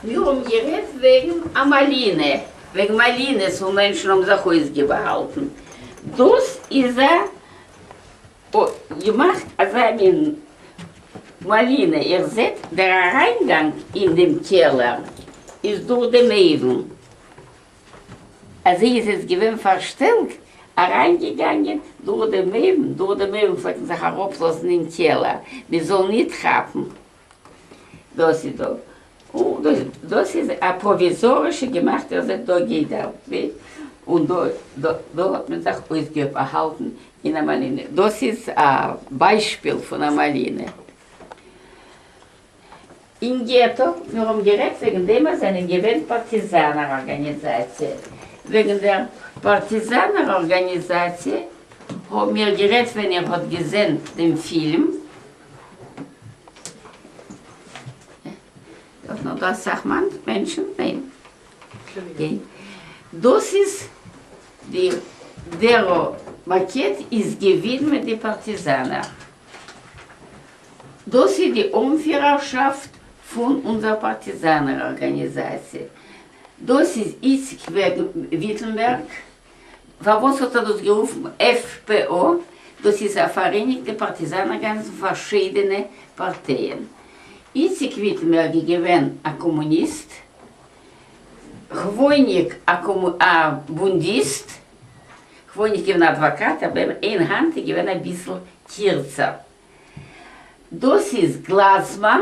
מיר האבן גערעדט וועגן א מאלינע, וועגן מאלינעס וואו מענטשן האבן זיך אויסגעבאהאלטן. דאס איז א געמאכט אזא מין מאלינע, איר זעט דער אריינגאנג אין דעם קעלער איז דורך דעם אויוון, אזוי איז עס געווען פארשטעלט, אריינגעגאנגען דורך דעם אויוון, דורך דעם אויוון פלעגט מען זיך אראפלאזן אין קעלער מען זאל ניט כאפן. דאס איז דא דאס איז א פראוויזארישע געמאכטע ער זעט דא גייט דער וועג און דא דא האט מען זיך אויסגעהאלטן אין א מאלינע דאס איז א ביישפיל פון א מאלינע אין געטא מיר האבן גערעדט וועגן דעם אז זענען געווען פארטיזאנער ארגאניזאציע וועגן דער פארטיזאנער ארגאניזאציע האבן מיר גערעדט ווען איר האט געזען דעם פילם דארף נאר דא אסאך מענטשן? ניין. דאס איז די דער מארקעט איז געווידמעט די פארטיזאנער. דאס איז די אנפירערשאפט פון אונזער פארטיזאנער ארגאניזאציע. דאס איז איציק וויטענבערג פארוואס האט ער דאס גערופן עף פ א? דאס איז א פאראייניגטע פארטיזאן ארגאניזם פארשידענע פארטייען. איציק וויטענבערג איז געווען א קאמוניסט, כוואויניק א בונדיסט, כוואויניק געווען א אדוואקאט אבער אין האנט איז געווען אביסל קירצער. דאס איז גלאזמאן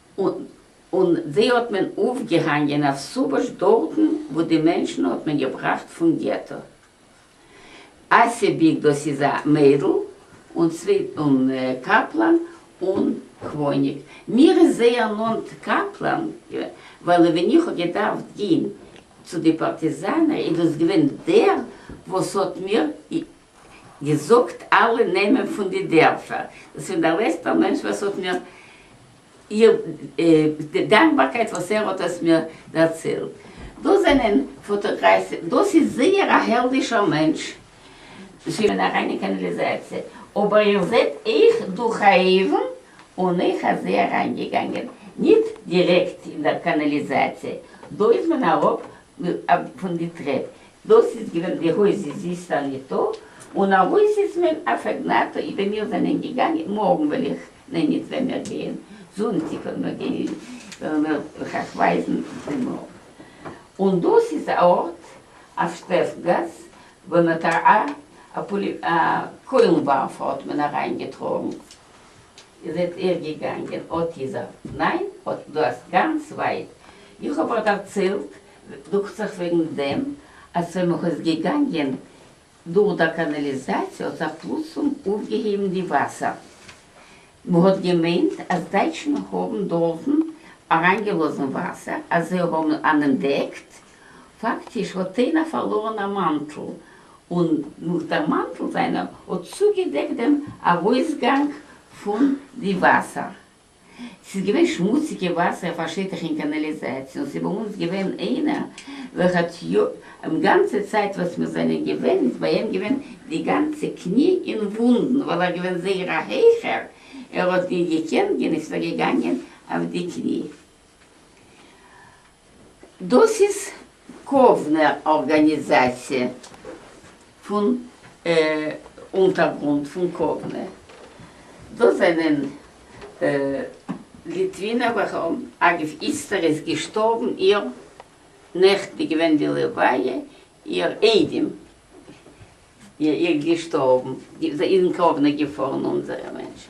און זיי האט מען אויפגעהאנגען אויף סובאש דארטן וואו די מענטשן האט מען געבראכט פון געטא. אסיביג דאס איז א מיידל און צוויי און קאפלאן און כווניק מיר איז זייער נאנט קאפלאן ווייל ווען איך האב געדארפט גיין צו די פארטיזאנער איז דאס געווען דער וואס האט מיר געזאגט אלע נעמען פון די דערפער, דאס איז דער לעצטער מענטש וואס האט מיר די דאנקבארקייט וואס ער האט עס מיר דערציילט, דאס זענען פאטאגרייס, דאס איז זייער א העלדישער מענטש. שוין אריין אין קאנאליזאציע, אבער איר זעט אויך דורך א אויוון, און אויך אז זיי אריין געגאנגען ניט דירעקט אין דער קאנאליזאציע, דאס ווען אראפ פון די טרעפ, דאָס איז געווען די הויז איז איסטאַלירטאָ און אַ הויז איז מען אַ פֿעגנאַטאָ אי ווען מיר זענען געגאַנגען מאָרגן וועל איך נײן ניט ווען מיר גייען זונטיק וועל מיר גייען וועלן מיר איך אײַך ווײַזן די מאָרגן און דאָס איז אַ אָרט אַ שטעפֿגאַס וווּ מען האָט אַ אַ פּאָלי אַ קוילן-וואַרפֿער האָט מען אַרײַנגעטראָגן איר זעט איר געגאַנגען אָט איז ער נײן אָט דאָ אַז גאַנץ ווײַט איך האָב איר דערציילט דוכט זיך וועגן דעם אז ווען מען איז געגאנגען דורך דער קאנאליזאציע האט זיך פלוצלונג אויפגעהויבן די וואסער, מען האט געמיינט אז דייטשן האבן דארטן אריינגעלאזן וואסער אז זיי האבן אננדעקט, פאקטיש האט איינער פארלארן א מאנטל און נאך דער מאנטל זיינער האט צוגעדעקט דעם ארויסגאנג פון די וואסער. ס'איז געווען שמוציגע וואסער אויף א שטח אין קאנאליזאציע און ס'איז ביי אונז געווען איינער וועלכע האט יא אים גאנצע צייט וואס מיר זענען געווען איז ביי אים געווען די גאנצע קני אין וואונדן ווייל ער געווען זייער א הייכער ער האט נישט געקענט גיין איז ער געגאנגען אויף די קני. דאס איז קאוונער ארגאניזאציע פון אונטערגרונט פון קאוונע. דאס זענען ליטווינער וועלכע האבן, אגב איצטער איז געשטארבן איר, נעכטן איז געווען די לוויה איר איידעם איר געשטארבן, זיי איז אין קאוונע געפארן אונזערע מענטשן,